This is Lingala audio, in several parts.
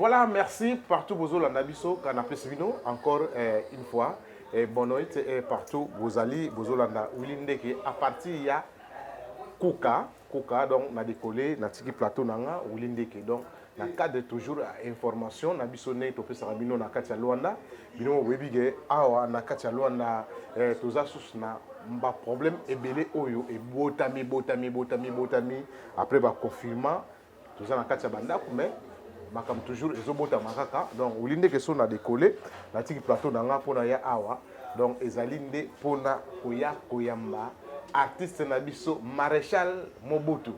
Voilà, merci partout bozolanda biso kana pesi bino encore euh, une fois et bonne nuit et partout bozali bozolanda Willy Ndeke à partir ya Kuka Kuka donc na décoller na tiki plateau nanga Willy Ndeke donc na cadre toujours ya information na biso ndenge topesaka bino na kati ya luanda bino boyebi ke awa na kati ya luanda eh, toza susu na baproblème ebele oyo ebotami ebotami ebotami ebotami après baconfinement toza na kati ya bandako mais makambo toujours ezobotama kaka donc oli ndeke so na dekole natiki plateau na nga mpona ya awa donc ezali nde mpona koya koyamba artiste na biso maréchal mobutu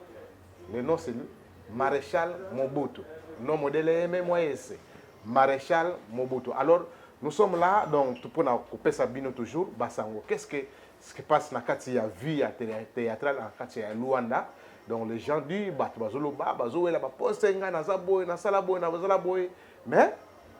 Le nom c'est Marechal Mobutu. Nom modèle aimé moi c'est Marechal Mobutu. Alors nous sommes là donc pour na kopesa bino toujours basango. Qu'est-ce que ce qui passe na kati ya vie ya théâtrale na kati ya Luanda? Donc les gens du bato bazoloba bazowela ba poste ngai naza boye nasala boye nazala boye mais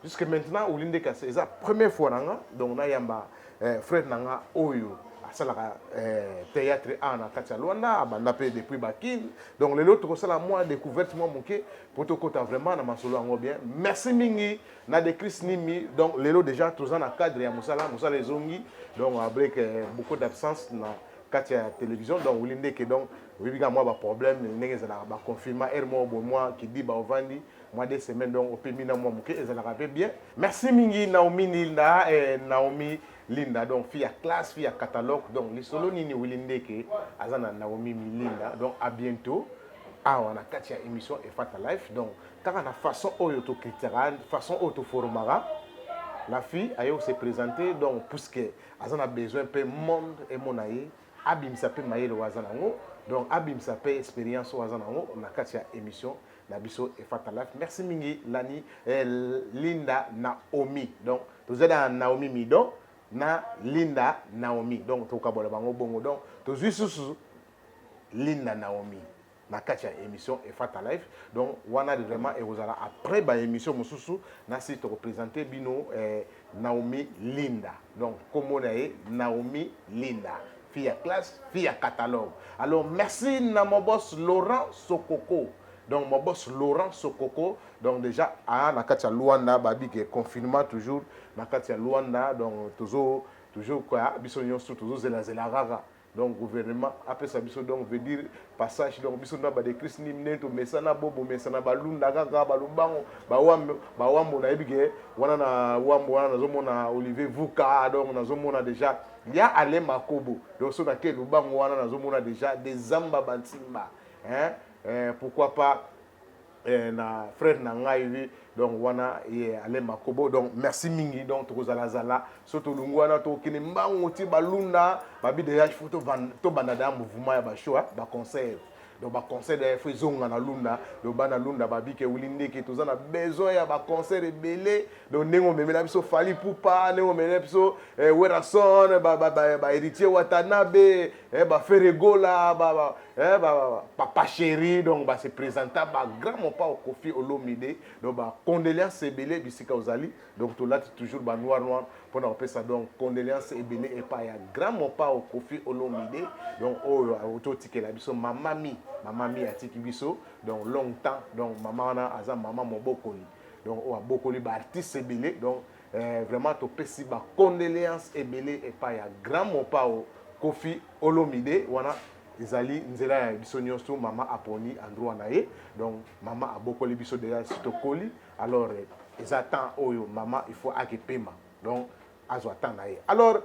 jusque maintenant oli nde kasi eza première fois na nga donc nayamba eh, frère na nga oyo asalaka eh, théâtre a na kati ya lwanda abanda mpe depuis bakin donc lelo tokosala mwa découverte mwa moke mpo tokota vraiment na masolo yango bien merci mingi na decris nimi donc lelo déjà toza na cadre ya mosala mosala ezongi donc avec eh, beaucoup d'absence na kati ya télévision donc oli ndeke donc oyebi kaka mwa baproblème ndenge ezalaka baconfinement heure moko boye mwa kidiba ovandi mwa de semaine donc opemi na mwa moke ezalaka mpe bien merci mingi naomi linda eh, naomi linda donc fille ya classe fille ya catalogue donc lisolo nini wili ndeke aza na naomi milinda donc à bientôt awa na kati ya émission efata life donc kaka na façon oyo tokritikaka façon oyo toforomaka la fille aye ose présenter donc puisque aza na besoin mpe monde emona ye abimisa mpe mayele oyo aza nango donc abimisa mpe expérience oyo aza nango na kati ya émission na biso efata life merci mingi lani eh, linda naomi donc toza na naomi mido na linda naomi donc tokabola bango bongo donc tozwi susu linda naomi na kati ya émission efata life donc wana vraiment ekozala après baémission mosusu na si tokopresente bino eh, naomi linda donc nkombo na ye naomi linda fille ya classe fille ya catalogue alors merci na mobos laurent sokoko donc mobos laurent sokoko donc déjà aa na kati ya luanda babi ke confinement toujours na kati ya luanda donc tozo toujours kwa biso nyonso tozozelazela kaka donc gouvernement apesa biso donc veut dire passage donc biso nde badecrise nini ndenge tomesana bo bomesana balunda kaka balubango bawambo bawambo nayebi ke wana na wambo wana nazomona olivier vuka donc nazomona déjà ya ale makobo donc so nake lubango wana nazomona deja des zamba bansimba hein? eh, pourquoi pas eh, na frère na ngai wi donc wana ye eh, ale makobo donc merci mingi donc tokozalazala so tolungi wana tokokende mbango ti balunda babi deja il faut tobanda deja mouvement ya bashow baconseil donc ba concert ya faut ezonga na lunda donc bana lunda babike wili ndeke toza na besoin ya ba concert ebele donc ndenge omemela biso fali pupa ndenge omemela biso eh, werason ba, ba, ba, ba héritier watanabe eh, ba feregola ba, ba, eh, ba, ba, papa chéri donc ba se présenta ba grand mopao kofi olomide donc ba condoléance ebele bisika ozali donc tolati toujours ba noir noir mpo na kopesa donc condoléance ebele epai ya grand mopao kofi olomide donc oyo auti otikela biso mama mi mama mi atiki biso donc long temps donc mama wana aza mama mobokoli donc oyo abokoli baartiste ebele donc eh, vraiment topesi bacondoléance ebele epai ya grand mopao kofi olomide wana ezali nzela ya biso nyonso mama aponi androit na ye donc mama abokoli biso deja si tokoli alors eza temps oyo mama il faut ake pema donc azwa temps na ye alors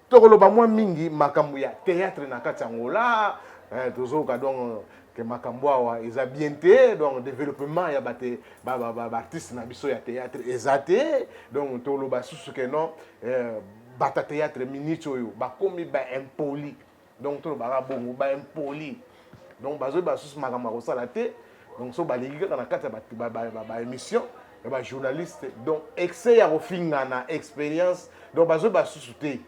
tokoloba mwa mingi makambo ya théâtre na kati ya ngola eh, tozoyoka donc ke makambo awa eza bien te donc développement ya bate baartiste na biso ya théâtre eza te donc toloba susu ke non eh, bata théâtre minute oyo bakomi baimpoli donc tolobaka bongo ba impoli donc bazoyeba lisusu makambo ya kosala te donc so baleki kaka na kati ya baémission ya bajournaliste donc excès ya kofingana expérience donc bazoyeba lisusu te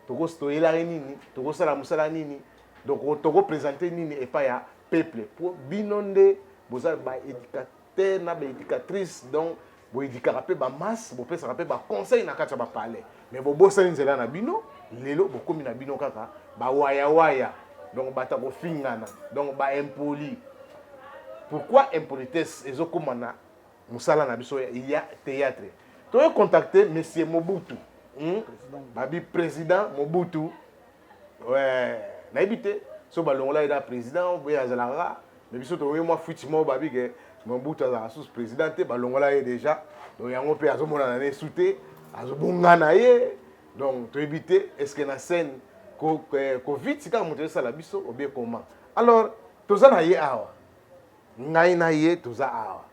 tokosi toyelaki nini tokosala mosala nini donc tokopresente nini epai ya peuple mpo bino nde boza baéducateur père na baeducatrice donc boedikaka mpe bamasse bopesaka mpe baconseil na kati ya bapalais mais bobosani nzela na bino lelo bokomi na bino kaka bawayawaya donc bato ya kofingana donc baimpoli pourquoi impolitesse ezokoma na mosala na biso ya théâtre toye contacte monsieur mobutu hmm? babi président mobutu nayebi te so balongola ye na président obe azalaka me biso toyoki mwa fuiti moko babi ke mobutu azalaka susu président te balongola ye déjà donc yango mpe azomonana na esu te azobonga na ye donc toyebi te est ce que na scène covid sika moto esala biso obie comment alors toza na ye awa Ngai na ye toza awa.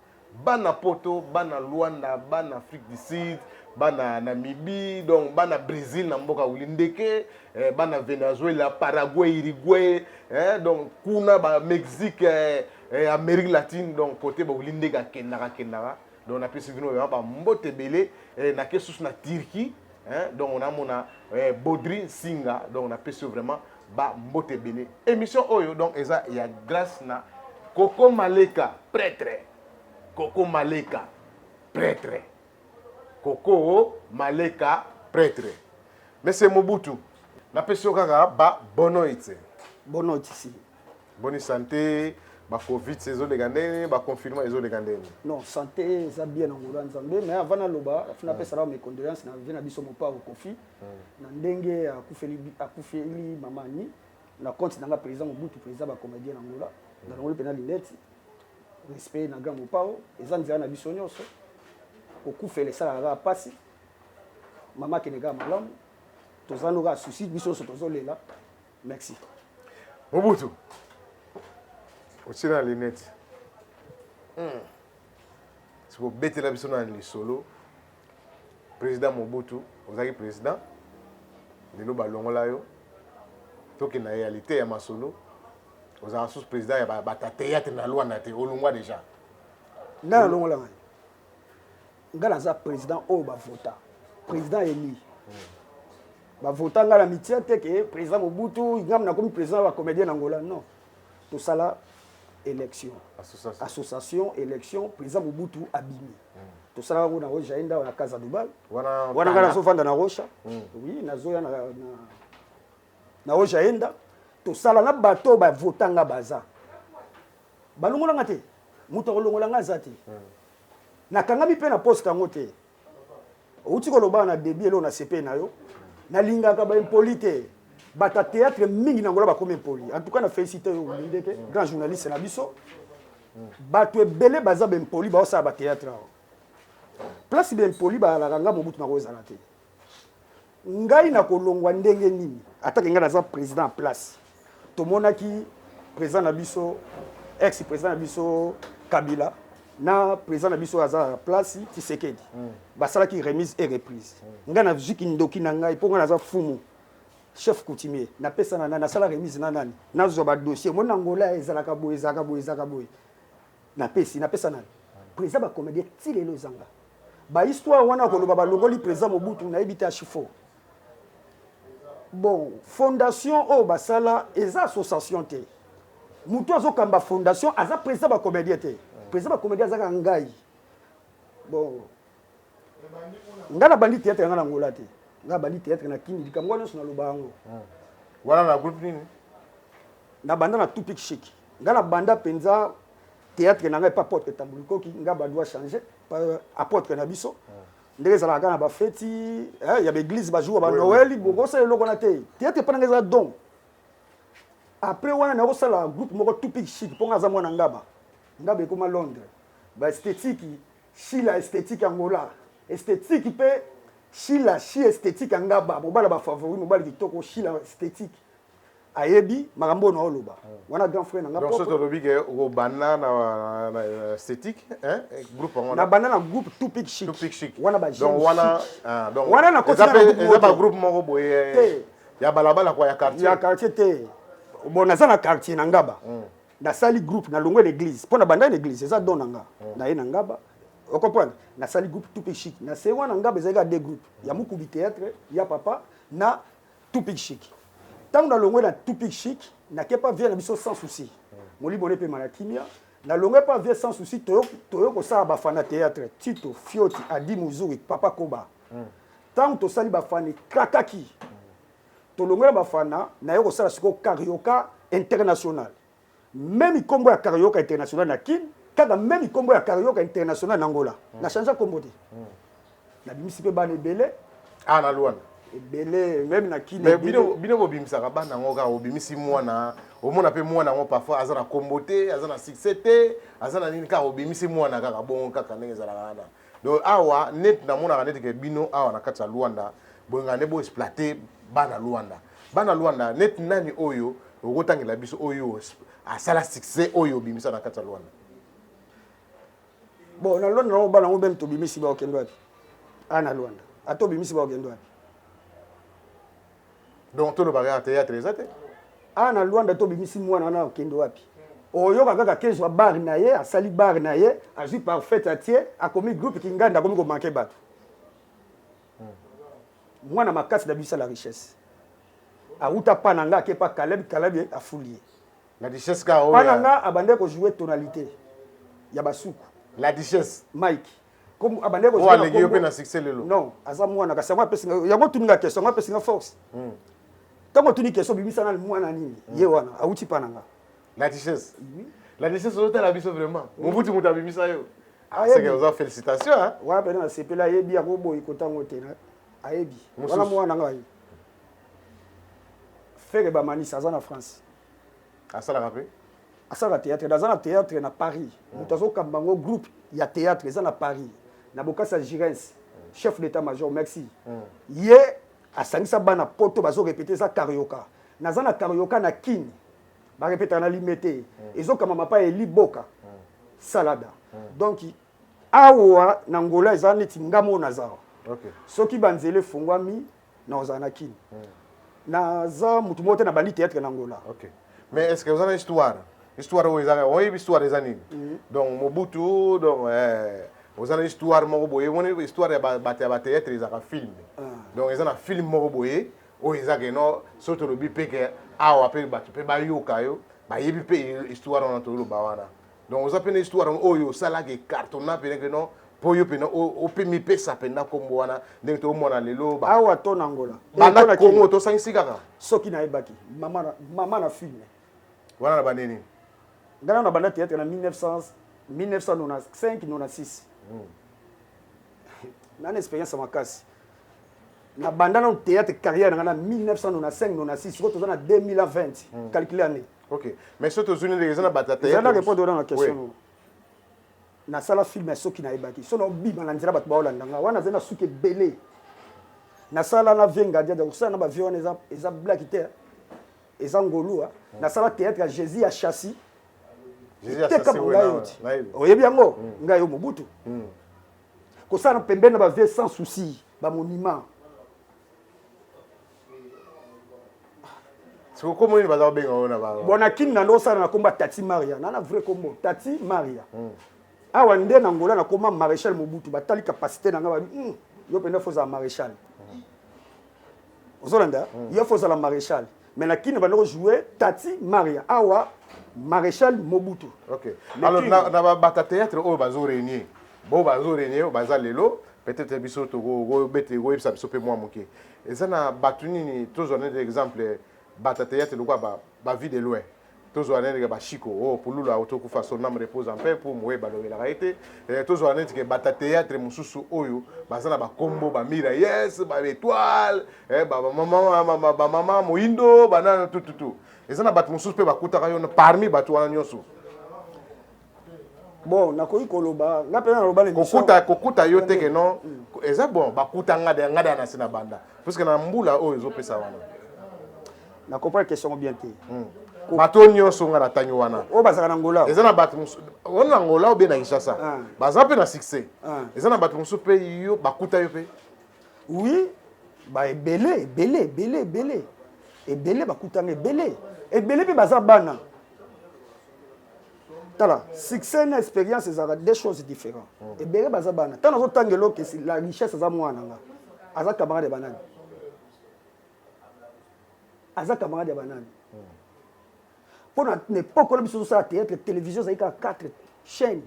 Bana poto, bana Luanda, bana Afrique du Sud, bana Namibie, donc bana Bresil na mboka wili ndeke, eh, bana Venezuela, Paraguay, Uruguay, eh, donc kuna ba Mexique, eh, eh, Amerique latine, donc kote ba wili ndeke akendaka kendaka. donc napesi bino vraiment bambote ebele eh, nake susu na turquie eh, donc namona eh, bodri nsinga donc napesi yo vraiment bambote ebele émission oyo donc eza ya grâce na koko maleka prêtre koko maleka prêtre koko maleka prêtre monsieur mobutu napesi yo kaka ba bonoite bonoite si boni sante ba covid ezoleka ndenge nini ba confinement ezoleka ndenge nini non sante eza bien na ngolo ya nzambe mais avant naloba fina apesa hmm. nao mes condoléances na vie na biso mopao kofi hmm. na ndenge akufeli mama ani na compte na nga président mobutu président ba comédien na ngola na longoli mpe na linete respect na grand mopao eza nzela na biso nyonso kokufela esalaka kaka mpasi mama akende kaka malamu toza noka souci biso nyonso tozolela Merci. Mobutu. Otila lunette. Hmm. Siko betela biso na lisolo. Président Mobutu, ozaki président. Lelo balongola yo. Toki na réalité ya masolo. Ozala sous président ya ba, ba théâtre na loi na te. Olongwa déjà. Nana longola ngai. nga naza président oyo ba vota président élu ba vota nga na mitia te ke président Mobutu ngam na komi président ba comédien na Angola non to sala élection association, association élection président Mobutu abimi mm. to sala ngo na Rocha enda na Casa Dubal wana nga nazo vanda na Rocha mm. oui nazo ya na, na na ojaenda tosala na bato oyo bavota nga baza balongola nga te moto akolongola nga aza te nakangami mpe na poste yango te outi kolobaka na debi eloo na sepe na yo nalingaka baimpoli te bato ya théâtre mingi na ngola bakomi impoli en tout cas na félicité yo olinde te grand journaliste na biso bato ebele baza baimpoli baosala bathéâtre awa place baimpoli balalaka nga mobutu nakozala te Ngai na ko longwa ndenge nini? Ata ke ngai na za president en place, to monaki president na biso, ex president na biso Kabila na president na biso oyo aza na place Tshisekedi, mm. ba salaki remise et reprise. Mm. Ngai na zuki ndoki na ngai po ngai na za fumu chef coutumier na pesa na nani, na sala remise na nani, na zwa ba dossier. Mon Angola ezalaka boye, ezalaka boye, ezalaka boye. Na pesi na pesa nani president ba comedien ti lelo ezanga ba histoire wana koloba ba longoli president mobutu na yebi te ashifo bon fondation oyo oh, basala eza association te mutu azo kamba fondation aza president ba comedien te president ba comedien azaka ngai bon ngai nabandi théâtre yanga na ngola te ngai nabandi théâtre na kini likambo wana nyonso naloba yango wana na groupe nini nabanda na topic chic Nga na banda penza theatre na nga epa apotre tambu likoki nga ba doit changer apotre na biso ndenge ezalaka kaka na bafeti eh, ya baeglise bajour ba noel bokosala eloko na te theatre epa na nga eza don après wana nakosala groupe moko tupic chic mpo nga aza mwana ngaba ngaba ekoma londres baestetiki shila estetiki angola estetiki mpe shila shi estetiki ya ngaba mobala bafavori mobali kitoko shila estetiki ayebi makambo oyo naoloba wana grand frère na nga propre olobi ke okobanda na na esthétique hein groupe yango na banda na groupe tout pic chic tout pic chic wana ba donc wana ah, donc wana na koti na groupe eza ba groupe moko boye te ya balabala kwa ya quartier ya quartier te bon naza na quartier na ngaba hmm. nasali groupe na longwe l'église mpo na banda na église eza don na nga hmm. naye na ngaba okomprendre nasali groupe tout pic chic na se wana ngaba ezalaki ya deux groupe ya mokubi théâtre ya papa na Tupic chic tango na longwe na tupic chic na ke pa vie na biso sans souci molimo ne pema na kimia na longwe pa vie sans souci toyo toyo ko sala ba fana théâtre tito fioti adi muzuri papa koba mm. tango to sali ba fani krakaki mm. to longwe na ba fana na yo ko sala siko carioca international Meme kombo ya Carioca international na Kin, kaka meme kombo ya Carioca international na Angola. Na changea kombo te. Na bimisi pe bana ebele. Ah na Luanda. Ebele meme na Kin. Mais bino bino bobimisaka bana ngo kaka obimisi mwana, omona pe mwana ngo parfois aza na kombo te, aza na succès te, aza na nini kaka obimisi mwana kaka bongo kaka ndenge ezalaka wana. Donc awa net na monaka net ke bino awa na kati ya Luanda bolingaka nde bo exploite bana Luanda. Bana Luanda net nani oyo oko tangela biso oyo asala succès oyo obimisa na kati ya Luanda. Bon na Luanda na bana ngo meme tobimisi ba okende wapi? Ah na Luanda. Ata obimisi ba okende wapi? donc toloba kaka théâtre eza te awa na luanda to bimisi mwana wana okende wapi oyoka kaka kezwa bar na ye asali bar na ye azwi parfait atie akomi groupe kinganda akomi komanke bato mwana makasi na biso la richesse awuta pa na nga ake pa kaleb kaleb afuli ye la richesse ka oyo pa na nga abandaki kojoue tonalité ya basuku la richesse mike Comme abandaki ah, kozala. Aleki yo pe na succès lelo. Non, aza mwana kasi yango apesi nga yango tuni nga question, yango apesi nga force. Hmm. Tango tuni question bimisa na mwana nini? Hmm. Ye wana awuti pa na nga. La richesse. Oui. La richesse ozotala biso vraiment. Mobutu moto abimisa yo. Ah, c'est que oza félicitations hein. Wana pe na sepela yebi yango boyi kotango te na. Ayebi. Wana mwana ngai. Ferre Bamanisa aza na France. asalaka mpe asalaka théâtre naza na théâtre na paris mm. moto azokamba yango groupe ya théâtre eza na paris na bokasi ya girens mm. chef d'état major merci mm. ye asangisa bana poto bazorepete eza karioka naza na karioka na kini barepetaka na lime te ezokamba mapa ya eliboka salada donc awa na ngola eza neti ngamo naza soki banzela efungwami Non, ozala na kin. Naza mutu moko te na bandi théâtre na Angola. OK. Mais est-ce que ozana histoire? Histoire oyo ezaka, oyebi histoire eza nini? Mhm. Donc Mobutu donc eh ozana histoire moko boye, moni histoire ya ba bato ya ba théâtre ezaka film. Ah. Donc eza na film moko boye oyo eza ke non soki tolobi pe ke awa pe bato pe bayoka yo bayebi pe histoire wana toloba wana. donc oza mpe na histoire yango oyo osalaka ecartona mpenza ke non mpo yo mpenza ope mipesa mpenza nkombo wana ndenge toomona lelo awa to na ngola banda kongo tosangisi kaka soki nayebaki mama na filme wana na bande nini ngai na nabanda théâtre na 1995 96 nani expérience makasi nabanda nano théâtre carrière na ngai na 1995 96 sikoyo toza na 2020 calcule année ok mais soki tozwi ndenge eza na batataeza na repondre nanga question oui. nasala filme ya soki nayebaki so naobima na nzela bato baolanda nga wana azali na suki ebele nasala na vie ngadiada kosala na bavie wana eza, eza blaki te eza ngolua hmm. nasala théâtre ya jésus ya chassi teka mangai oti oyebi yango hmm. ngai yo mobutu hmm. kosala na pembeni na bavie sans souci bamonima siko kombo nini baza kobenga oyo na bango bona kini na ndosala na kombo ya tati maria nana vrai kombo tati maria hmm. awa nde na ngola nakoma maréchal mobutu batali capacité na ngai babi hmm, yo mpenza fo ozala maréchal hmm. ozolanda yo fo ozala maréchal mais na kini banda kojoue tati maria awa maréchal mobutu okay. alors na, na babata théâtre oyo bazo réunir bo bazo réunir baza lelo peut-être biso tokoyebisa biso mpe mwa moke Eza na batu nini tozwa neti exemple batu ya theatre lokola ba, ba vie de loin tozwa neti ke ba Chico oh pululu awo tokufa son ame repose en paix pour moye balobelaka ye te eh, tozwa neti ke batu ya theatre mosusu oyo baza na ba kombo ba mira yes ba etoile eh, ba mama ba mama moindo banana tututu eza na batu mosusu pe bakutaka yo parmi batu wana nyonso bon nakoki koloba nga mpe naloba na kokuta kokuta yo te ke non mm. eza bon bakuta nga de nga de na se na banda puisque na mbula oyo ezopesa wana na comprendre question bien te mm. bato nyonso nga natangi wana oyo bazalaka na ngola eza na bato wana na ngola obe na kinshasa ah. baza mpe na succès ah. eza na bato mosusu mpe yo bakuta yo mpe oui ba ebele ebele ebele ebele ebele bakutanga ebele ebele mpe baza bana tala succès na expérience ezalaka deux choses différents mm. ebele baza bana ntango nazotanga eloko esi la richesse aza mwana nga aza camarade ya banani aza camarade ya banani mpo mm. na epoke wana biso tozosala théâtre télévision ezali kaka quatre chaîne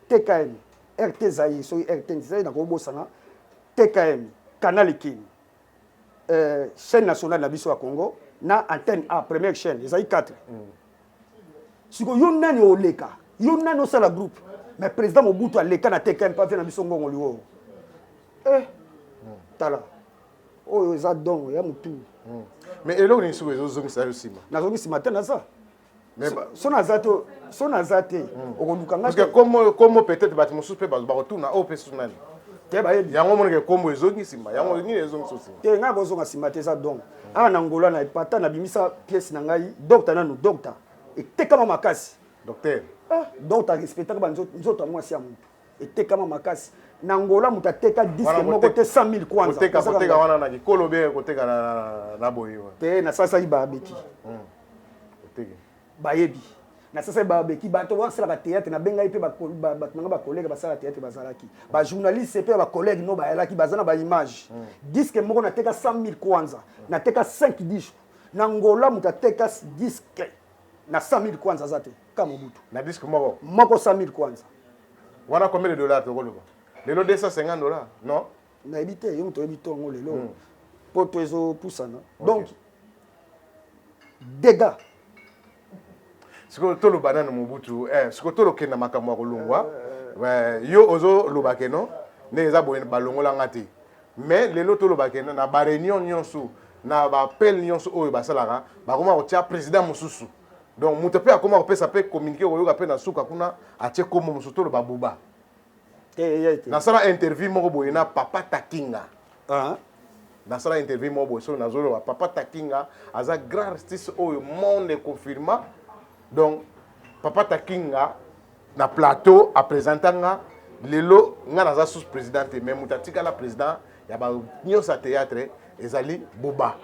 tkm rt zaire soki rt zaire nakobosana tkm canal ekeni euh, chaîne nationale na biso ya Congo na antenne A première chaîne ezali 4 mm. siko yo nani oleka yo nani osala groupe mais président Mobutu aleka na TKM pa na biso ngongo liwo eh tala oyo eza dongo ya mutu mm. mais eloko nini siko ezozongisa yo nsima nazongi nsima te naza so naza te so naza te hmm. okoluka ngakombo peut-être bato mosusu mpe bakotuna oyo oh, mpe sunani te bayebi yango omonaka ekombo ezongi nsima yango ah. nini ezongi so nsima te ngai bozonga nsima te eza dongo hmm. awa na ngola na epata nabimisa pièce na ngai dokta nanu dokta etekama makasi docteur ah, dokta respectaka banzoto ya mwasi ya motu etekama makasi na Angola moto ateka disque moko te 100000 kwanza koteka koteka wana na kikolo be koteka na na boye te na sasa iba beti hmm. oteke bayebi na sasa iba beti bato basalaka théâtre na bengai pe bato nanga ba collègue basala théâtre bazalaki hmm. ba journaliste pe ba collègue no bayalaki baza na ba image hmm. disque moko nateka 100000 kwanza nateka 5 disque na Angola moto ateka disque na 100000 kwanza aza te ka mobutu na disque moko moko 100000 kwanza wana combien de dollars tokoloba lelo 250 dollars non nayebi te yo moto oyebi ntongo lelo hmm. poto ezopusana donc dégâts sikoyo toloba nano mobutu eh, sikoyo tolokenda makambo ya kolongwa eh, eh. yo ozoloba keno ndenge eza boye balongola nga te mais lelo toloba keno na bareunion nyonso na bappel nyonso oyo basalaka bakoma kotia président mosusu donc moto mpe akoma kopesa mpe communiqué okoyoka mpe na suka kuna atie kombo mosusu toloba buba eh, nasala interview moko boye na papa takinga ah. nasala interview moko boye soki nazoloba papa takinga aza grand artiste oyo monde confirma donc papa takinga na plateau apresenta nga lelo nga naza sous président te mais moto atikala président ya ba nyonso ya théâtre ezali boba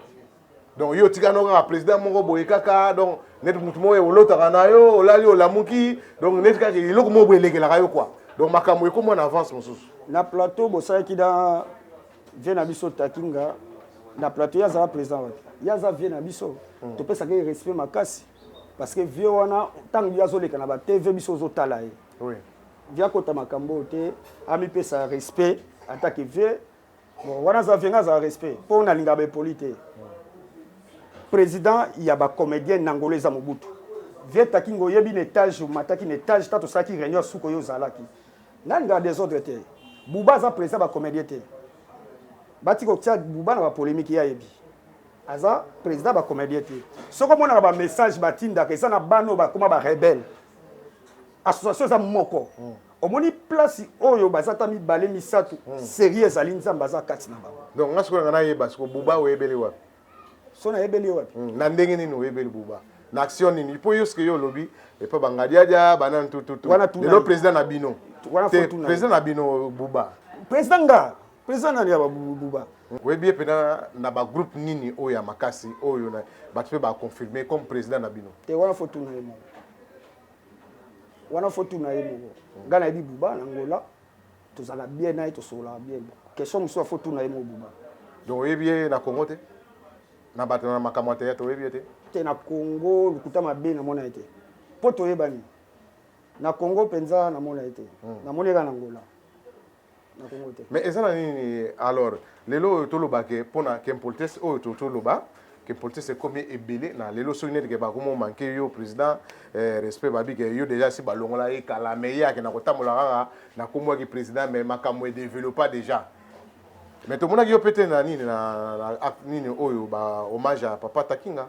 donc yo otika no kaka président moko boye kaka donc neti motu moko olotaka na yo olali olamuki donc neti kaka eloko moko boye elekelaka yo kua donc makambo ekoma na avance mosusu na plateau bosalaki na vie na biso takinga na plateau ye azala président wapi ye aza vie na biso hmm. topesaka ye respect makasi parce que vie wana ntango ye azoleka na batv biso ozotala ye vie akota makambo oyo te amipesa respect atake vie Bon, wana za venga za respect po na linga ba poli te. Président ya ba comédien nangolo eza Mobutu. Vieta Kingo oyebi na etage omataki na etage ta tosalaki réunion suko yo ozalaki. Nani nga désordre te. Buba aza président ba comédien te. Bati ko tia Buba na ba polémique ya yebi. Aza président ba comédien te. Soko mona ba message batindaka eza na bano bakoma ba rebelle. Association eza moko. Mm. omoni place oyo baza ta mibale misato hmm. serie ezali nzambe aza kati na bango donc nga sikoyo nanga nayeba siko buba oyebeli wapi so nayebeli ye wapi hmm, na ndenge nini oyebeli buba na action nini mpo yo sike yo olobi epa bangadiadia banani tututulelo président na bino te président na bino buba président nga président nani ya buba oyebi ye mpena na bagroupe nini oyo ya makasi oyo bato mpe baconfirme comme président na bino te wana fo tuna ye moko wana faut tuna ye moko ngai nayebi buba na ngola tozalaka bien na ye tosololaka bien question mosusu faut tuna ye moko buba donc oyebi ye na congo te na bato na makambo ya teyatre oyebi ye te te na congo lokuta mabe namona ye te mpo toyebani na congo mpenza namona ye te hmm. namoni ye kaka na ngola na Congo te mais eza na nini alors lelo oyo toloba ke pona ke politesse oyo to toloba ke politesse ekomi ebele na lelo soki neti ke bakomo manke yo président eh, respect babi ke yo déjà si balongola ye kala mais ye akenda kotambola kaka na kombo ya ki président mais makambo e développa déjà mais tomonaki yo pete na nini na, na, na acte nini oyo ba hommage ya papa Takinga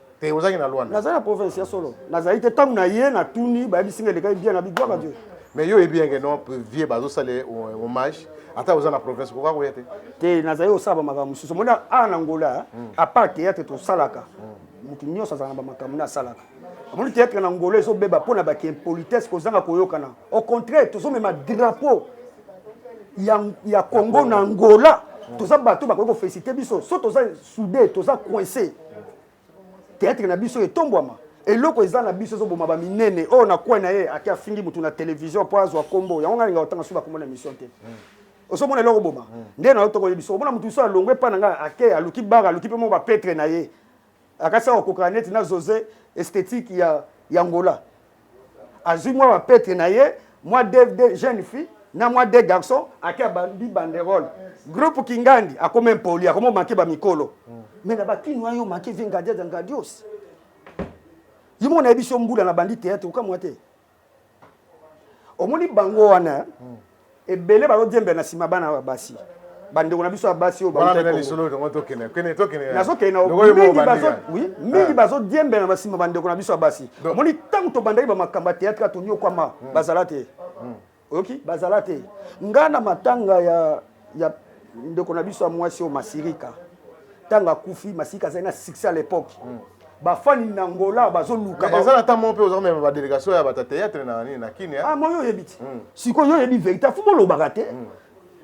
te ozalaki na luanda nazali na province ya solo nazali te ntango na ye natuni bayebisi nga elekaki bien na bigwaka dieu mais yo oyebi yenge non vie bazosala hommage ata oza na province koka koya te te nazali kosala bamakambo mosusu omoni awa na ngola apart théâtre tosalaka moto nyonso azala na bamakambo nde asalaka omoni théâtre na ngola ezobeba mpo na bake impolitesse kozanga koyokana au contraire tozomema drapeau ya, ya congo na ngola toza bato bakoki kofelisite biso so toza soude toza coince theatre na biso etombwama eloko eza na biso ezoboma baminene oyo oh, na coin na ye ake afingi motu na télévision mpo azwa nkombo yango ngai linga otanga soki bakomona émission te hmm. ozomona eloko boma hmm. nde na yo tokoye biso omona motu biso alongwe epai na ngai ake aluki bara aluki mpe mo bapetre na ye akasi akokoka neti na jose esthétique ya, ya ngola azui mwa ba pete na ye mwa dev de jeune fille na mwa de garçon ake abandi banderole groupe kingandi akoma impoli akoma omake ba mikolo mais na bakini wana yo omake vie ngadia de ngadios yo moko nayebi so mbula na bandi théâtre okamwa te omoni bango wana ebele bazodiembela na nsima bana ya basi bandeko na biso ya basi oyo mingi bazodiembela na nsima bandeko na biso ya basi omoni ntango tobandaki bamakambo ya teatre toniokwama hmm. bazala te hmm. oyoki bazala te ngai na matanga ya ndeko na biso ya mwasi oyo masirika ntango akufi masirika azali na succès à l'époque mm. bafani na ngola bazoluka eza na ntango moko mpe oza komema badelegation ya bata théâtre na nini na kini ah, moi yo oyebi ti mm. sikoyo yo oyebi verité afu bolobaka te mm.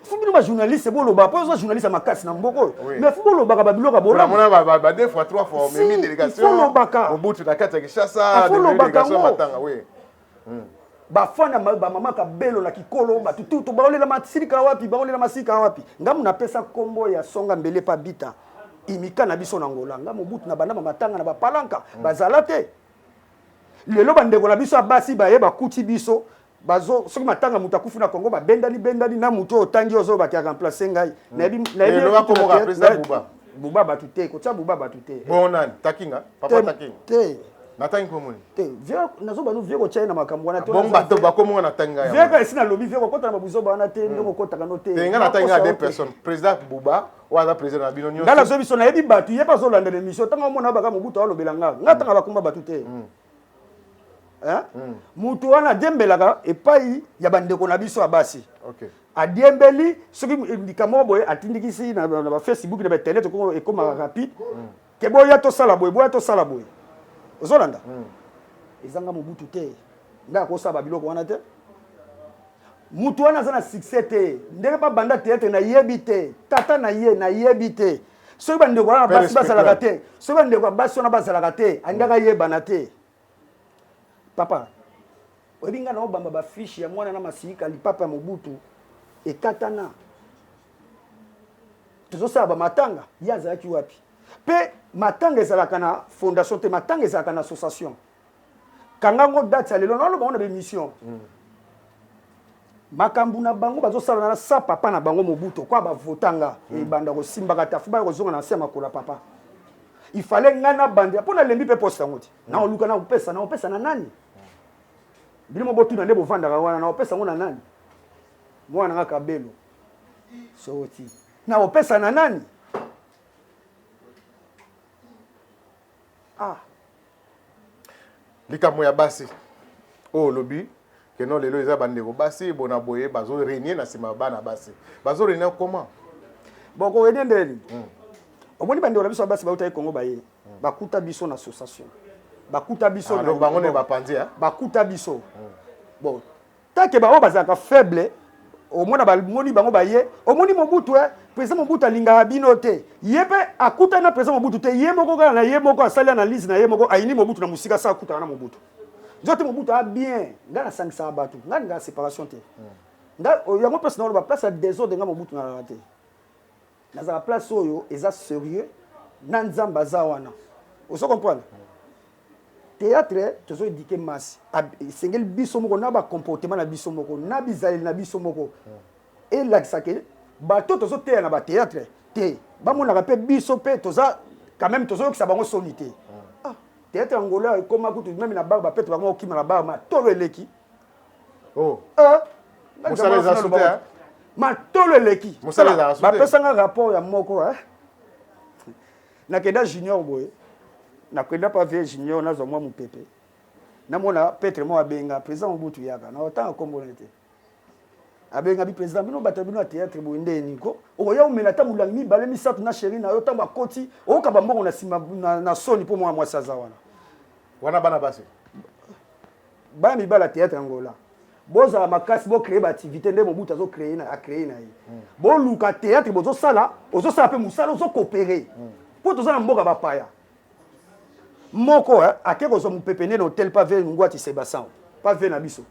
fo bino bajournaliste boloba mpo oza journaliste ya makasi na mboka oyo mais fo bolobaka babiloko ya bolamonabadefois trois fois omemi délégation olobaka mobutu na kati ya kinshasa ah, délégation matanga oui hmm. bafana bamama kabelo na kikolo batututu baolela masika wapi baolela masika wapi ngamu napesa nkombo ya songa mbele pa bita imika na biso na ngola nga mobutu na bandama matanga na bapalanka hmm. bazala te lelo bandeko na biso ya basi baye bakuti biso bazo soki matanga moto akufi na congo babendani bendani na moto oyo otangi ozoyo bake aremplace ngai hmm. nayebi buba bato te kotya buba bato te bongo nani takinga papa takinga te natangi mpo moni te nazoba nu vie kotya ye na makambo wana ah, bongo bato bakomonga natangi ngai vie kasi nalobi vie kokota na babuzoba wana te hmm. ndenge okotaka no te ngai natangi ngai de personne président buba oyo aza président na bino nyonso ngai nazobi so nayebi bato ye mpe azolanda na émission ntango amona baka mobutu alobela ngai ngai atanga bakoma bato te hmm. Hmm? moto wana adiembelaka epai ya bandeko na biso ya basi okay. adiembeli soki likambo moko boye atindikisi na bafacebook na bainternet ekomaka rapide mm. ke boya tosala boye boya tosala boye ozolanda mm. ezanga mobutu te nde akosala babiloko wana te moto wana aza na succès te ndenge babanda teatre nayebi te tata na ye nayebi te soki bandeko wana basi bazalaka te soki bandeko ya basi wana bazalaka te alingaka yebana te papa oyebi ngai naobamba bafiche ya mwana na masiyika lipapa ya mobutu ekatana tozosala bamatanga ye azalaki wapi mpe matanga ezalaka na fondation te matanga ezalaka na association kanga ngo date ya lelo naloba ngo na bemission mm. makambo na bango bazosalana na sa papa na bango mobuto kwa bavota nga mm. ebanda kosimbaka tafu baya kozonga na nse ya makolo ya papa il fallait nga nabandela mpo nalembi mpe poste yango te mm. naoluka nakopesa nakopesa na nani bino mo botuna nde bovandaka wana nakopesa yango na nani mwana nga kabelo soti nakopesa na nani Ah. Likambo ya basi. Oyo oh, lobi que non lelo eza bandeko basi bona boye bazo régner na sima bana basi. Bazo régner comment? Bon ko régner ndeli. Hmm. Omoni bandeko na biso basi ba utaki Congo baye. Hmm. Bakuta biso na association. Bakuta biso ah, na bango ne bapanzi ya. Bakuta biso. Hmm. Bon Tant que ba oyo bazalaka faible omona bamoni bango baye omoni mobutu e eh, president mobutu alingaka bino te ye mpe akutani na president mobutu te ye moko kaka na ye moko asali analyse na ye moko ayini mobutu na mosika sa akutana na mobutu nzote mobutu a bien ngai nasangisaka bato ngai ngaa séparation te hmm. ngai yango place naoloba place ya desordre ngai mobutu nalala te Nazalaka place oyo eza serieux na nzambe aza wana ozo comprendre théâtre tozo éduquer masse esengeli biso moko na ba comportement na biso moko na bizaleli na biso moko elakisa ke bato tozo teya na ba théâtre te bamonaka mpe biso mpe toza quand même tozo yokisa bango soni te ah, théâtre angola ekoma kutu meme na bar bapete bango okima na bar ma tolo eleki oh euh, mosala eza sute hein? matolo eleki bapesanga rapport ya moko hein? nakenda junior boye nakenda pa vie junior nazwa mwa mopepe namona petre moko abenga président mobutu yaka na otanga nkombo na ye te abenga bi président bino bato bino ya théâtre boye nde niko okoya omela ata molangi mibale misato na sheri na yo ntango akoti oyoka bambongo na nsima na soni mpo mwana mwasi aza wana wana bana basi bana mibali ya théâtre angola bozala makasi bo créer ba activité nde mobutu azo créer na a créer na ye hmm. boluka théâtre bozosala ozosala mpe mosala ozo coopérer hmm. mpo toza na mboka bapaya moko eh, ake kozwa mopepe nde na hotel pave ngwati sebasan pave na biso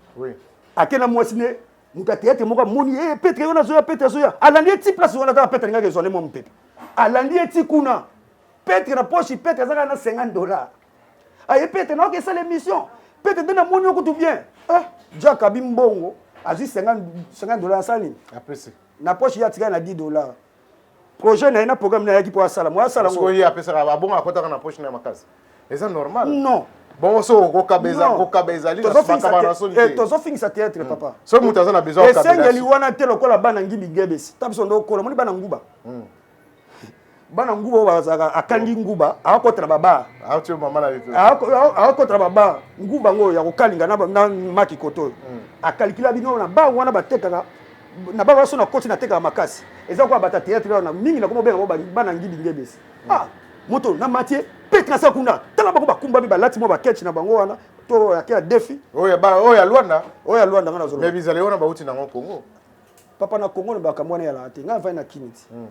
ake na mwasi ne moto ya théâtre moko amoni e eh, petre wana azoya petre azoya alandi ye ti place wana kaka petre alingaki ezwa nde mwa mopepe alandi ye ti kuna petre na poche petre azaka na 50 dollars aye pete na oke sala émission pete nde namoni okutu bien eh, jack abi mbongo azwi 50 dollars asala nini na poche ye atikali na 10 dollars projet na ye na programme na yaki mpo asala mo asala ngo ye apesaka abongo akotaka na poche na makasi eza normal non bongo so okokaba eza kokaba ezali eh, tozofingisa théâtre hmm. papa soki moto aza na besoin esengeli wana te lokola bana ngibi gebesi ta biso nde okola moni bana nguba hmm. bana nguba oyo bazalaka akangi nguba akokota na babar akokota na babar nguba yango oyo ya kokalinga na maki koto oyo hmm. akalikila bino na bar wana batekaka na bar wana so nakoti natekaka makasi eza koya bata théâtre wana mingi nakoma obenga ngo bana ngibi ngebesi hmm. ah moto na matie pete na sa kuna tala bango bakumbami balati mwa baketch na bango wana to yake ya defi oyo ya luanda oyo ya luanda nga nazoloba mais bizali wana bauti nango congo papa na congo olobaka mwana eyalaka te ngai avai na kini ti hmm.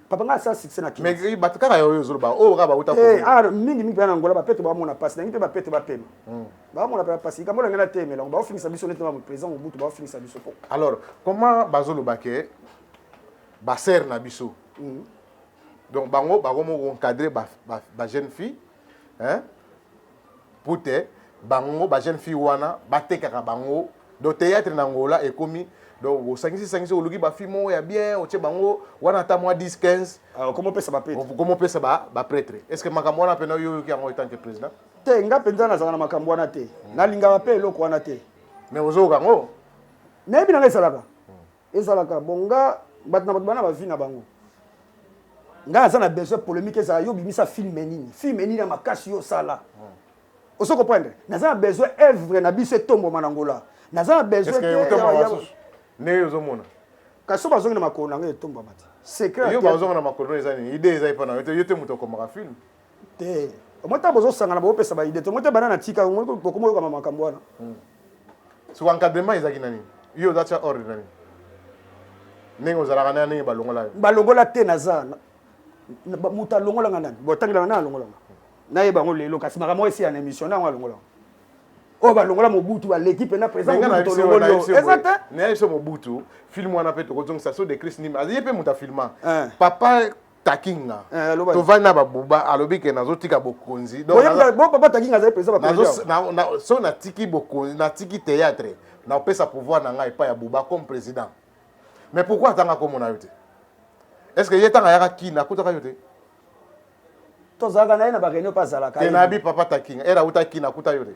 papa ngai asala succès na kini bato kaka yaoyo ozoloba oyo kaka bauta eh, ah, mingi mingi mpe na ngola bapete bamona mpasi nangi mpe bapete bapema hmm. bamona mpe bapasi likambo olangi natemelango baofingisa biso neti mamu président mobutu baofingisa biso po alors comment bazoloba ke basere na biso hmm. donc bango bakomi koencadre bajeune fille hein pute bango ba jeune fille wana batekaka bango do théâtre na Angola ekomi donc osangisi sangisi oluki ba fille moko ya bien otie bango wana ata mwa 10 15 ah, okomi opesa ba prêtre okomi opesa ba ba prêtre est-ce que makambo wana pena yo yoki yango etant que président te nga penza nazala na makambo wana te hmm. nalingaka pe eloko wana te mais ozoyoka yango nayebi na nga ezalaka Ezalaka bon nga bato na bato bana ba vie na bango nga naza na besoin polemique ezala yo bimisa film nini film nini ya makasi yo osala ozo comprendre naza na besoin œuvre na biso etomboma na ngola naza na besoin ndenge ozomona kasi so bazongi na makolo na ngai etombwama te secret yo bazonga na makolo eza nini idée eza epa na yo te yo te moto okomaka film te omoi ntango bozosangana bopesa baide te omoi te bana na tika bokoma oyokama makambo wana hmm. soki encadrement ezalaki na nini yo oza tya ordre na nini ndenge ozalaka na ndenge balongola yo balongola te naza moto alongolanga nani botangelanga nani alongolanga nayeba yango lelo kasi makambo esi ya na émission na yango alongolanga oyo balongola mobutu baleki mpena presidenteza te nayebiso mobutu filme wana mpe tokozongisa so de christ nima aye mpe moto afilma eh. papa takinga tovandi na babuba alobi ke nazotika bokonzi papa takinga azali presidentso natiki bokonzi natiki théâtre nakopesa pouvoir na ngai epai ya buba comme président mais pourquoi atanga komona yo te est ce que ye ntango ayaka kina akutaka yo te tozalaka na ye na bareunion mpe azalaka te nayebi papa takinga ere auta kina akuta yo te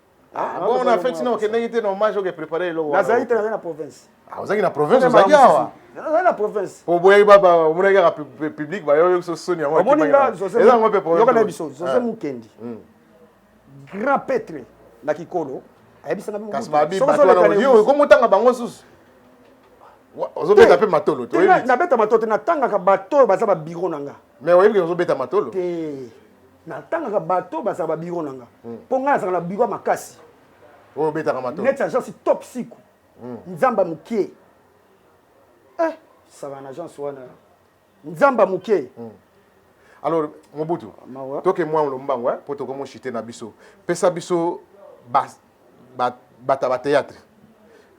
Ah, ah bon, na feti na okendaki te na hommage oke préparer eloko wana. Nazali te nazali na province. Ah, ozalaki na province ozalaki awa. Nazali na province. Po boyaki ba ba omonaki kaka public ba yo so soni yango. Omoni nga José. Eza ngo pe province. Yoka na biso José ah. Mukendi. Hmm. Grand pètre na Kikolo. Ayebisaka bino. Kasi ba bi ba twana yo okomotanga bango susu. ozobeta mpe matolo nabeta matolo te natangaka bato oyo baza babiro na nga mais oyebi ke ozobeta matolo te Natangaka bato oyo bazalaka ba biro na nga mpo ngai nazalaka na biro ya makasi oyo obetaka matolo neti agence top siku nzamba mukie eh saka na agence wana nzamba mukie alors mobutu Mawa. toke mwa lombango eh, mpo tokomi oshite na biso pesa biso ba- ba- bato ya bateatre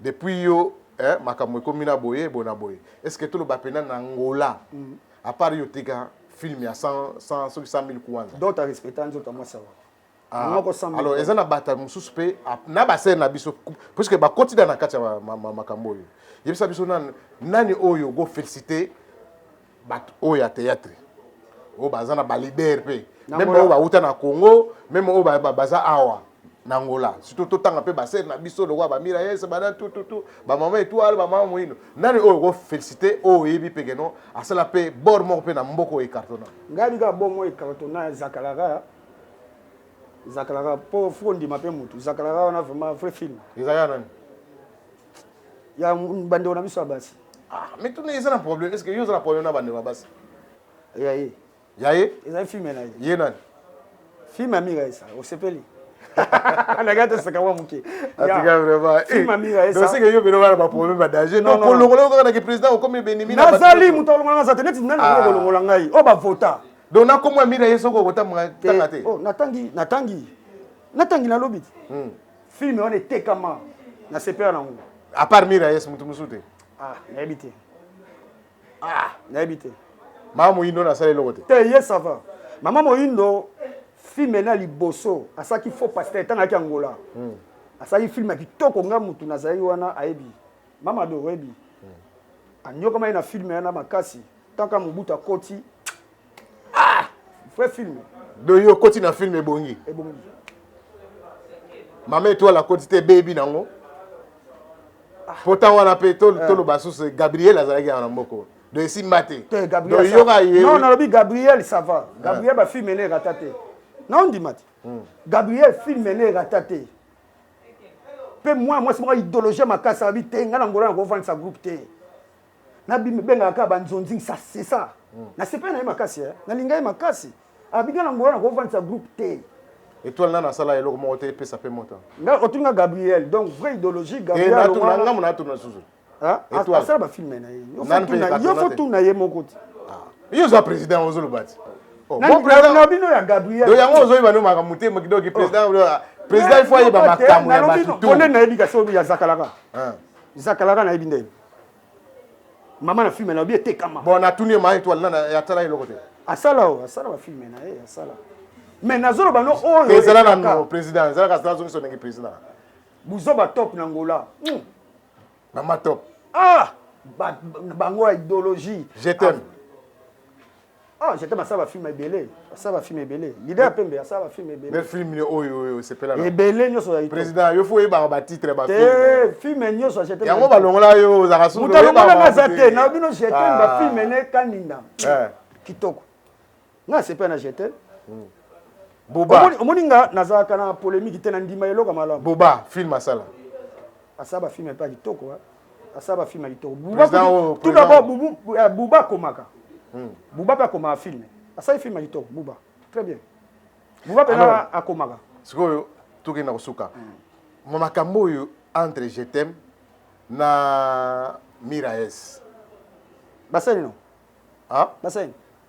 depuis yo eh, makambo ekomi na boye boye na boye est ce que toloba mpena na ngola A part yo tika film ya 100 100 soki 100000 kuanza. D'autres a respecta nzoto ya mwasi awa. Ah, Moko 100000. alors eza na bata mosusu mpe a- na basere na biso puisque bakoti da na kati ya ma- ma- ma- makambo oyo yebisa biso nani, nani oyo okofélicité bato oyo ya théâtre oyo baza na balider mpe Na meme Angola. oyo bauta na congo meme oyo ba- ba- baza awa na Angola surtout totanga mpe basere na biso lokola bamira yese bana tututu bamama etoile bamama moino nani oyo okofélicité oyo oyebi mpe keno asala mpe bor moko mpe na mboko oyo ecartona ngai bika bor moko ecartona ya zakalara zakalara mpo fo ondima mpe motu zakalara wana vraiment vrai film eza ya nani ya bandeko na biso ya basi ah, mituna eza na problème est ce que yo oza na problème na bandeko ya basi ya ye Ya ye? Ezali film na ye. Ye nani? Film ya Mira esa. Osepeli? nagai toseka mwa moke atika vraimentdoseke eh, yo bino bana baproblème ya danger donc kolongola yo kaka na kiprésident okomi benimi nazali moto alongola naza te neti nani ah. kolongola ngai oyo bavota donc nakomwa mira ye soki okotanga te oh, natangi natangi natangi nalobi te hmm. filme wana etekama na sepela nango apart mira yes moto mosusu te ah, nayebi te ah nayebi te mama moyindo nasala eloko te te ye ça va mama moyindo filme na liboso asalaki faux pasteur ntango ayaki angola mm. asalaki filme ya kitoko nga mutu nazalaki wana ayebi mama do oyebi mm. anyokamaki na filme yana makasi ntanka mobutu akoti ah vrai film doyo okoti na film ebongi ebongi mama etoile akoti te ebebi nango ah. po ntango wana mpe eh. toloba susu gabriel azalaki yango na mboko do esimba te doyoka ye non nalobi gabriel ça va eh. gabriel bafilm ene erata te na ondima te hmm. gabriel film ene erata te mpe mwana mwasi moko idéologie makasi abi te ngai na ngolo na kovandisa groupe te na bengaka kaka ba nzonzing ça c'est ça na sepeli na ye makasi hein na linga ye makasi abika na ngola na ko vandisa groupe te Etoile nana asala eloko moko te epesa pe moto. Nga otunga Gabriel donc vraie idéologie eh, Gabriel. Eh natuna nga mona tuna susu. Ah, asala ba film na ye. Yo faut tuna, yo faut tuna ye moko te. Ah. Yo za président ozo lobati. Oh, bon président na bino ya Gabriel. Do yango ozo yeba no maka mutema kidoki oh. président président il faut ayeba makambo ya batu. Bonne na yebi kasi obi ya zakalaka. Ah. Zakalaka na yebi ndenge. mama na filme nalobi etekama bon natuni ye maa etoile nana atala eloko te asala o asala bafilme na ye asala mais nazoloba no oyo ezala na no président ezalaka zala zongiso ndenge président buzoba top na ngola hmm. mama top ah bango ya idéologie je t'aime ah. Ah je t'aime asala ba film ebele asala ba film ebele leader ya pembe asala ba film ebele mais film ni oyo oyo sepela na ebele nyoso ya président yo faut yeba ba titre ba film te film nyoso je t'aime yango ba longola yo za kasu muta longola na za te na bino je t'aime ba ah. film ne kaninda eh. kitoko na sepela na je t'aime hmm. boba omoni nga nazalaka na polémique te na ndima eloko malamu boba film asala asala ba film epa kitoko hein asala ba film ya kitoko tout d'abord buba eh, akomaka hmm. buba mpe akomaka film asali film ya kitoko buba très bien buba mpenza akomaka sikoyo tokenda kosuka hmm. makambo oyo entre je t'aime na miraes basali no basali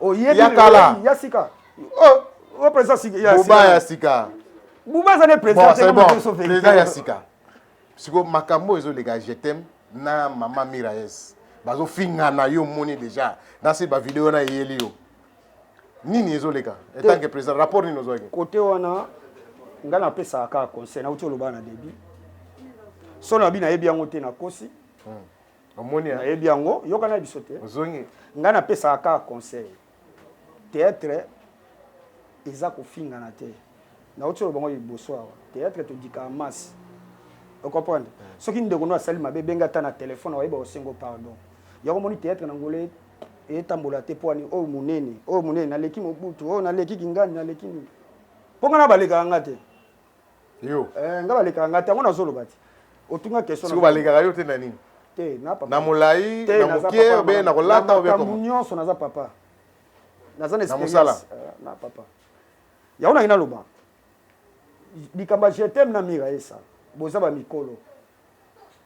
oyebi ya kala ya sika oh o président sika ya sika buba ya sika buba za ne président te bon, bon. président ya sika siko makambo ezo leka je t'aime na maman Miraes bazo finga na yo moni déjà na se ba vidéo na yeli yo nini ezo leka etant que président rapport nini ozwaki côté wana nga na pesa ka conseil na uti oloba na début solo abi na yebi yango te na kosi hmm. omoni hein? nayebi yango yoka na biso te ozongi ngai napesaka kaka conseil theatre eza kofingana te nauti oloba ngo liboso awa theatre todikaka masse ocomprendre hmm. soki ndeko no asali mabe benga ata na telefone akoyeba osengo pardon yango omoni theatre na ngole etambola te mpo ani oyo monene oyo monene naleki mobutu oyo naleki kingani naleki nini mpo ngai na balekaka ngai te yo eh, nga balekaka nga tango nazoloba te otunga question siko balekaka yo te na nini te na papa na molai na mokie obe na kolata obe makambo nyonso naza papa naza na experience eh, na papa yango nangi naloba likambo ya jetem na mira esa boza bamikolo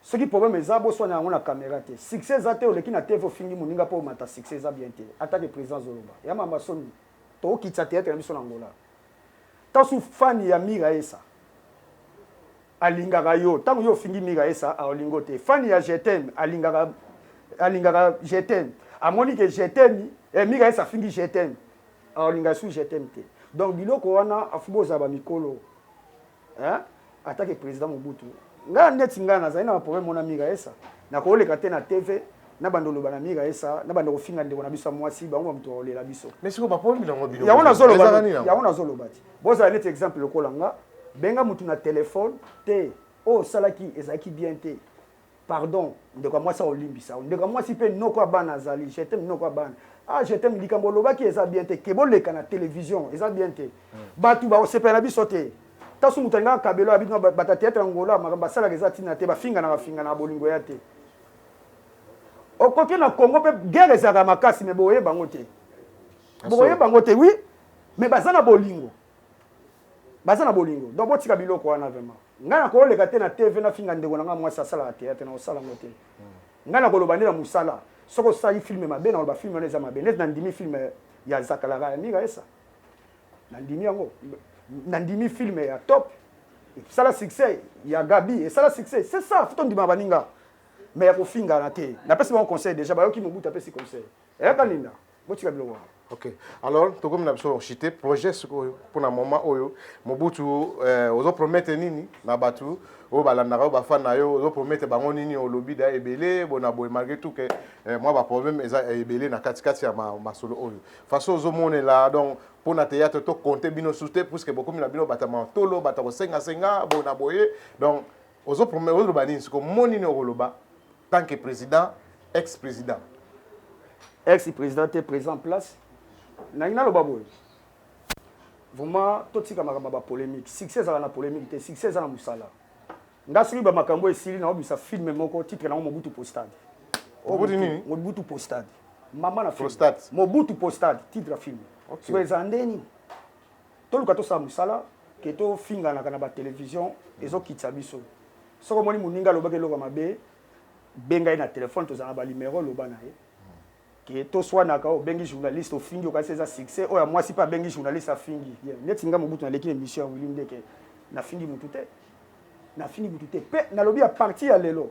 soki problème eza boswana yango na caméra te succès eza te oleki na tv ofingi moninga mpo omata succès eza bien te atake président azoloba ya mamba soni tokokitisa théâtre na biso na ngola Tasu fan ya miraesa alingaka yo tango yo ofingi miraesa aolingo te fan ya je t'aime alingaka alingaka je t'aime amoni ke je t'aime eh, miraesa afingi je t'aime aolinga su je t'aime te donc biloko wana afubo ozaba mikolo Hein attaque president mobutu nga neti nga nazali na ba problème mona mira esa na koleka te na TV na bando loba na mira esa na bando kofinga ndeko na biso mwasi bango ba mutu olela biso mais siko ba problème na bino yango na zolo ba yango na zolo bati bozala neti exemple lokola nga benga mutu na telephone te o oh, salaki ezalaki bien te Pardon ndeko ya mwasi ako limbisa yo ndeko ya mwasi pe noko ya bana azali je t'aime noko ya bana ah je t'aime likambo olobaki eza bien te ke boleka na television eza bien te batu bako sepela na biso te tasu mutu alingaka kabelo ya bino bata theatre ya ngola makambo basalaka eza tina te bafinganaka finganaka bolingo ya te okoki na Congo pe guerre ezalaka makasi mais boye bango te boye bango te oui mais baza na bolingo Baza na bolingo donc botika biloko wana vraiment. Ngai na ko leka te na TV na finga ndeko na ngai muasi asalaka theatre na ko sala ngo te. Ngai na ko loba nde na musala soki osali film mabe na ko loba film wana eza mabe neti na ndimi film ya Zakalaka ya Mira Esa. Na ndimi yango. Na ndimi film ya Top esala succès ya Gabi esala succès c'est ça faut to ndima baninga mais ya ko fingana te. Na pesi bango conseil dejà bayoki Mobutu apesi conseil. Yaya Kalinda, botika biloko wana. Ok. Alors, tokomi na biso chite projet sikoyo mpona moment oyo Mobutu euh, ozo promettre nini na bato oyo balandaka yo bafan na yo ozo promettre bango nini olobi da ebele bona boye malgré tout que euh, mwa baproblème eza ebele na katikati ya ma, masolo oyo façon ozomonela donc mpo na théâtre to compte bino sous te puisque bokomi na bino bata matolo bata kosengasenga bona boye donc Ozo promet ozo loba nini siko mot nini oko loba tant que president ex president. Ex president te president en place nalingi na loba boye vraiment to tika makambo ba polemique succès ezala na polemique te succès eza na musala nga soki ba makambo esili na obisa film moko titre na mobutu postade obuti nini mobutu postade mama na film mobutu postade titre ya film okay. so ezala ndeni Toluka tosala musala que to finganaka na ba television ezo kitisa biso. Soki omoni muninga alobaki eloko ya mabe benga ye na telephone tozala na ba numero loba na ye que to swanaka obengi journaliste ofingi okanisi eza succès oyo ya mwasi pe abengi journaliste afingi ye neti nga mobutu na leki emission ya Willy ndeke na fingi mutu te na fingi mutu te pe na lobi a partir ya lelo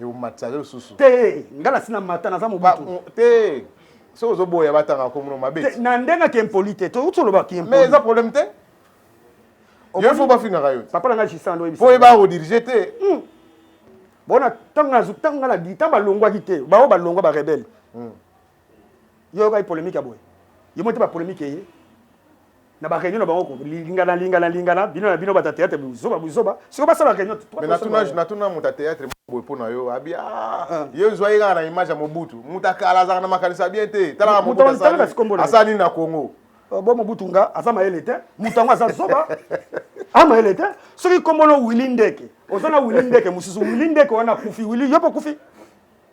eumatisa yo lisusu te ngai nasi na mata naza mobutu te soki ozoboya batanga nkombo mabe na ndenge ake impoli te touti oloba ki mais eza problème te yo fo bafingaka yo papa na ngai gisando oyebisa po yeba odirige te hmm. bona ntango ntango ngai na ntango balongwaki te baoyo balongwa barebele hmm. Yo oyokaki polemique ya boye? Yo moni te ba polemique eye na ba reunion na bango ko lingana lingana lingana bino na bino bata theatre buzoba buzoba siko basala reunion mais natuna natuna muta theatre boye mpo na yo abi ah, ah. yo zwa ye kaka na image ya mobutu moto akala azalaka na makanisi ya bien te talaka mobutu asala nini na congo oh, bo mobutu nga aza mayele te moto yango aza zoba a mayele te soki kombono wili ndeke oza na wili ndeke mosusu wili ndeke wana akufi wili yo mpe okufi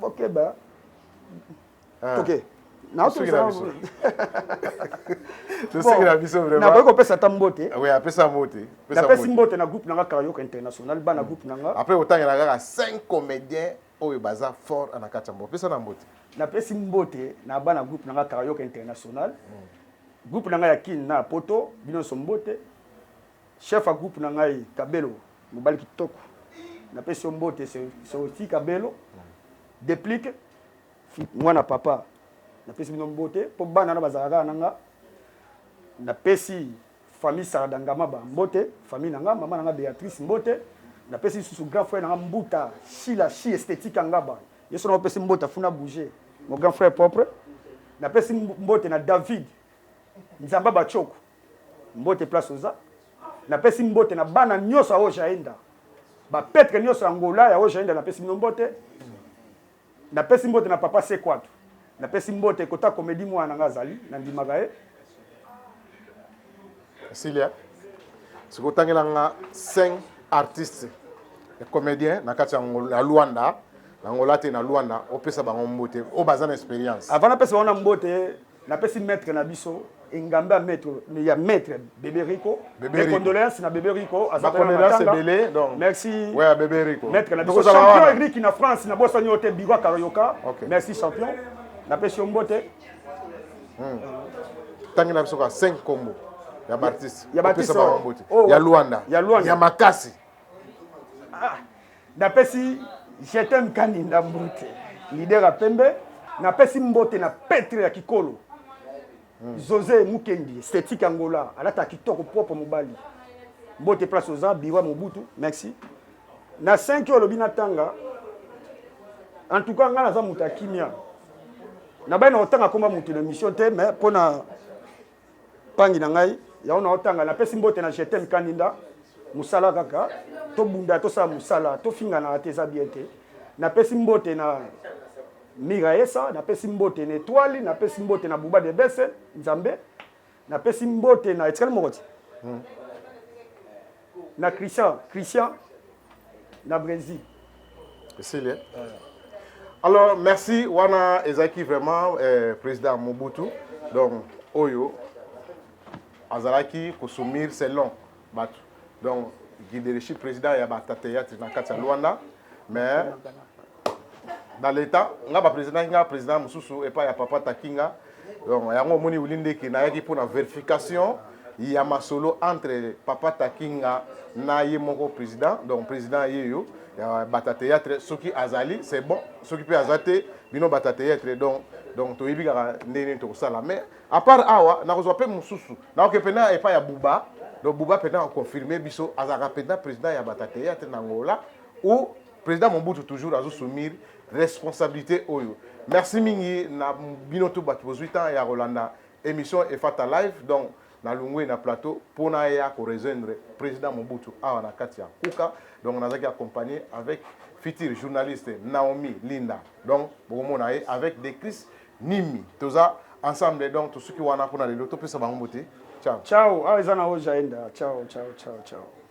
bokeba ah. toke nakoki kopesa ata mbote napesi mbote na groupe nanga karayoka international bana groupe nanga apres otangela kaka 5 comédien oyo baza fort na kati ya mbote pesa na mbote napesi mbote na bana groupe nanga karayoka international mm. groupe nanga ya kin na poto bino nyonso mbote Chef ya groupe na ngai kabelo mobali kitoko na pesi yo mbote soki kabelo deplique mwana papa na pesi bino mbote po bana na bazalaka kaka na nga na pesi famille sarada ngamaba mbote famille na nga mama na nga beatrice mbote na pesi lisusu grand frère na nga mbuta shila shi esthétique ngaba yeso na opesi mbote afuna bouger mon grand frère propre na pesi mbote na david Nzambe ya ba tshoko mbote place oza na pesi mbote na bana nioso ya Ojaenda ba petre nioso ya Angola ya Ojaenda na pesi bino mbote na pesi mbote na papa Sekwatu na pesi mbote kota komedi mwana na nga azali na ndimaka ye Silia siko tangela nga 5 artistes ya comédien na kati ya Angola ya Luanda na Angola te na Luanda opesa bango mbote o baza na experience avant na pesa bango na mbote Napesi maitre na biso engambe ya maitre ya maitre bebe rico mes condoléances na bebe rico aza pena matanga merci ouais ya bebe rico maitre na biso champion eric na france na bosani yo te biro karayoka okay. merci champion na pesi yo mbote hmm. tangi na biso ka 5 kombo ya bartiste ya batiste ya luanda ya luanda ya makasi ah, napesi jetem kaninda mbote lider ya pembe napesi mbote na petre ya kikolo hmm. jose mukendi esthétique angola alata kitoko propre mobali mbote place oza biwa mobutu merci na 5 oyo olobi natanga en tout cas ngai naza moto ya kimia nabai na kotanga koma moto na mission te mais mpona Pangi na ngai yango na otanga na pesi mbote na jetem kaninda musala kaka tobunda tosala musala tofingana te eza bien te na pesi mbote na miraesa na pesi mbote na etoile na pesi mbote na buba de bese nzambe na pesi mbote na etikali moko ti hmm. na christian christian na brésil esili eh? alors merci wana ezalaki vraiment eh, président mobutu donc oyo azalaki kosumir selon bato donc guidereshi président ya batata théâtre na kati ya luanda mais na leta nga ba président nga président mususu epa ya papa takinga donc yango omoni wili ndeke nayaki mpo na verification ya masolo entre papa takinga na ye moko président donc président ye yo ya bata théâtre soki azali c'est bon soki mpe aza te bino bata théâtre donc donc toyebi kaka ndenge nini tokosala mais à part awa nakozwa mpe mosusu naoke mpena epai ya buba donc buba mpena aconfirme biso azalaka mpena président ya bata théâtre na ngola ou President Mobutu toujours azo sumir responsabilité oyo. Merci mingi na bino tout bato bozui temps ya kolanda émission Efata Live donc na lungwe na plateau pona ya ko rejoindre President Mobutu awa na kati ya Kuka donc nazaki accompagné avec future journaliste Naomi Linda donc bokomona ye avec des Chris Nimi toza ensemble donc tosuki wana pona lelo topesa bango mbote ciao ciao awa eza na ojaenda ciao ciao ciao ciao